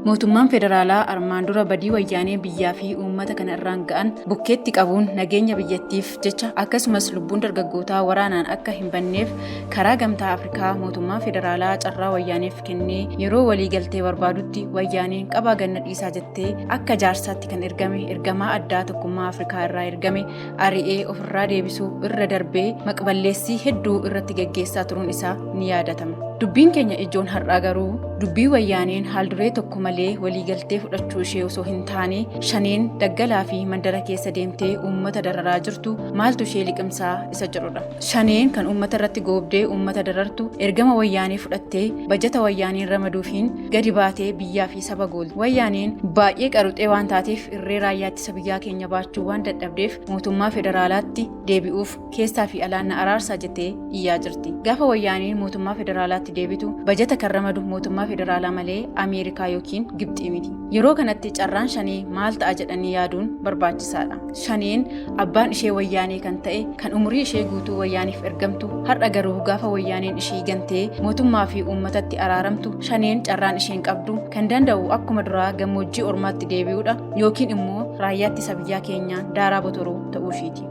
Mootummaan federaalaa armaan dura badii wayyaanee biyyaa fi uummata kana irraan ga'an bukkeetti qabuun nageenya biyyattiif jecha akkasumas lubbuun dargaggootaa waraanaan akka hin banneef karaa gamtaa Afrikaa mootummaa federaalaa carraa wayyaaneef kennee yeroo walii galtee barbaadutti wayyaaneen qabaa ganna dhiisaa jettee akka jaarsaatti kan ergame ergamaa addaa tokkummaa Afrikaa irraa ergame ari'ee ofirraa deebisuu irra darbee maqballeessii hedduu irratti geggeessaa turuun isaa ni yaadatama. Dubbiin keenya ijoon har'aa garuu dubbii wayyaaneen haalduree tokko malee waliigaltee fudhachuu ishee osoo hin taane shaneen daggalaa fi mandara keessa deemtee uummata dararaa jirtu maaltu ishee liqimsaa isa jedhudha. Shaneen kan uummata irratti goobdee uummata darartu ergama wayyaanee fudhattee bajata wayyaaneen ramaduufiin gadi baatee biyyaa fi saba goolti. Wayyaaneen baay'ee qaruxee waan taateef irree raayyaatti Isa biyyaa keenya baachuu waan dadhabdeef mootummaa federaalaatti deebi'uuf keessaa fi alaan na araarsaa jettee iyyaa jirti. Gaafa wayyaaneen mootummaa federaalaatti deebitu bajata kan ramadu mootummaa federaalaa malee Ameerikaa yookiin Gibxii miti. Yeroo kanatti carraan shanee maal ta'a jedhanii yaaduun barbaachisaadha. Shaneen abbaan ishee wayyaanee kan ta'e kan umurii ishee guutuu wayyaaniif ergamtu har'a garuu gaafa wayyaaneen ishii gantee mootummaa fi uummatatti araaramtu shaneen carraan isheen qabdu kan danda'u akkuma duraa gammoojjii ormaatti deebi'uudha. yookiin immoo raayyaa ittisa biyyaa keenyaa daaraa botoruu ta'uu ishiiti.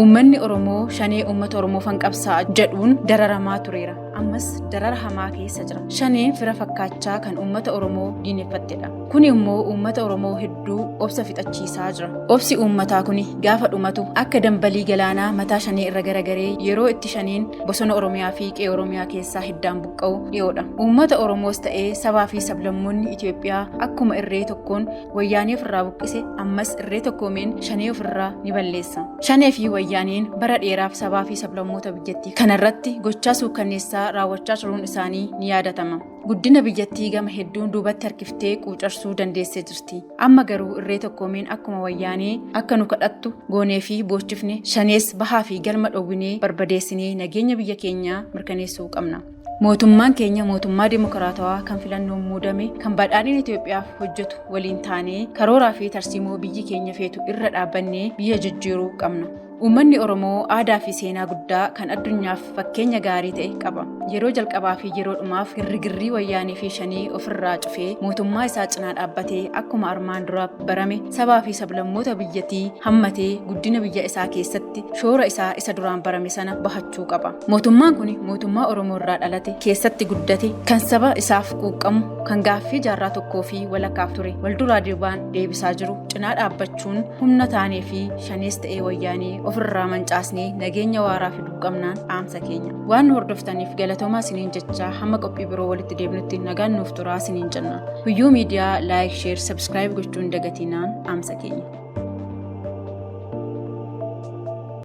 Uummanni Oromoo shanee uummata Oromoo fanqabsaa jedhuun dararamaa tureera. Ammas darara hamaa keessa jira. Shanee fira fakkaachaa kan uummata Oromoo diineffattedha. Kun immoo uummata Oromoo hedduu obsa fixachiisaa jira. Obsi uummataa kun gaafa dhumatu akka dambalii galaanaa mataa shanee irra garagaree yeroo itti shaneen bosona Oromiyaa fi qe'ee Oromiyaa keessaa hiddaan buqqa'u. qabu dhiyoodha. Uummata Oromoos ta'ee sabaa fi sablammoonni Itoophiyaa akkuma irree tokkoon wayyaanee ofirraa buqqise ammas irree tokkoomeen shanee ofirraa ni balleessa. Shanee fi wayyaaneen bara dheeraaf sabaa fi sablammoota biyyattii kanarratti gochaa suukkanneessaa raawwachaa turuun isaanii ni yaadatama. Guddina biyyattii gama hedduun duubatti harkiftee quucarsuu dandeessee jirti. Amma garuu irree tokkoomeen akkuma wayyaanee akka nu kadhattu goonee fi boochifne shanees bahaa fi galma dhowwinee barbadeessinee nageenya biyya keenyaa mirkaneessuu qabna. Mootummaan keenya mootummaa dimokiraatawaa kan filannoon muudame kan badhaadhina Itoophiyaaf hojjetu waliin taanee karooraa fi tarsiimoo biyyi keenya feetu irra dhaabbannee biyya jijjiiruu qabna. Uummanni Oromoo aadaa fi seenaa guddaa kan addunyaaf fakkeenya gaarii ta'e qaba. Yeroo jalqabaa fi yeroo dhumaaf girrigirrii wayyaanii fi shanii ofirraa cufee mootummaa isaa cinaa dhaabbatee akkuma armaan dura barame sabaa fi sablammoota biyyattii hammatee guddina biyya isaa keessatti shoora isaa isa duraan barame sana bahachuu qaba. Mootummaan kun mootummaa Oromoo irraa dhalate keessatti guddate kan saba isaaf quuqqamu kan gaaffii jaarraa tokkoo fi walakkaaf ture walduraa duubaan deebisaa jiru cinaa dhaabbachuu jechuun humna taanee fi shanees ta'ee wayyaanee ofirraa mancaasnee nageenya waaraa fiduu qabnaan dhaamsa keenya. Waan nu hordoftaniif galatoomaa isiniin jechaa hamma qophii biroo walitti deebinutti nagaan nuuf turaa isiniin jenna. Guyyuu miidiyaa laayik, sheer, sabskiraayib gochuun dagatinaan dhaamsa keenya.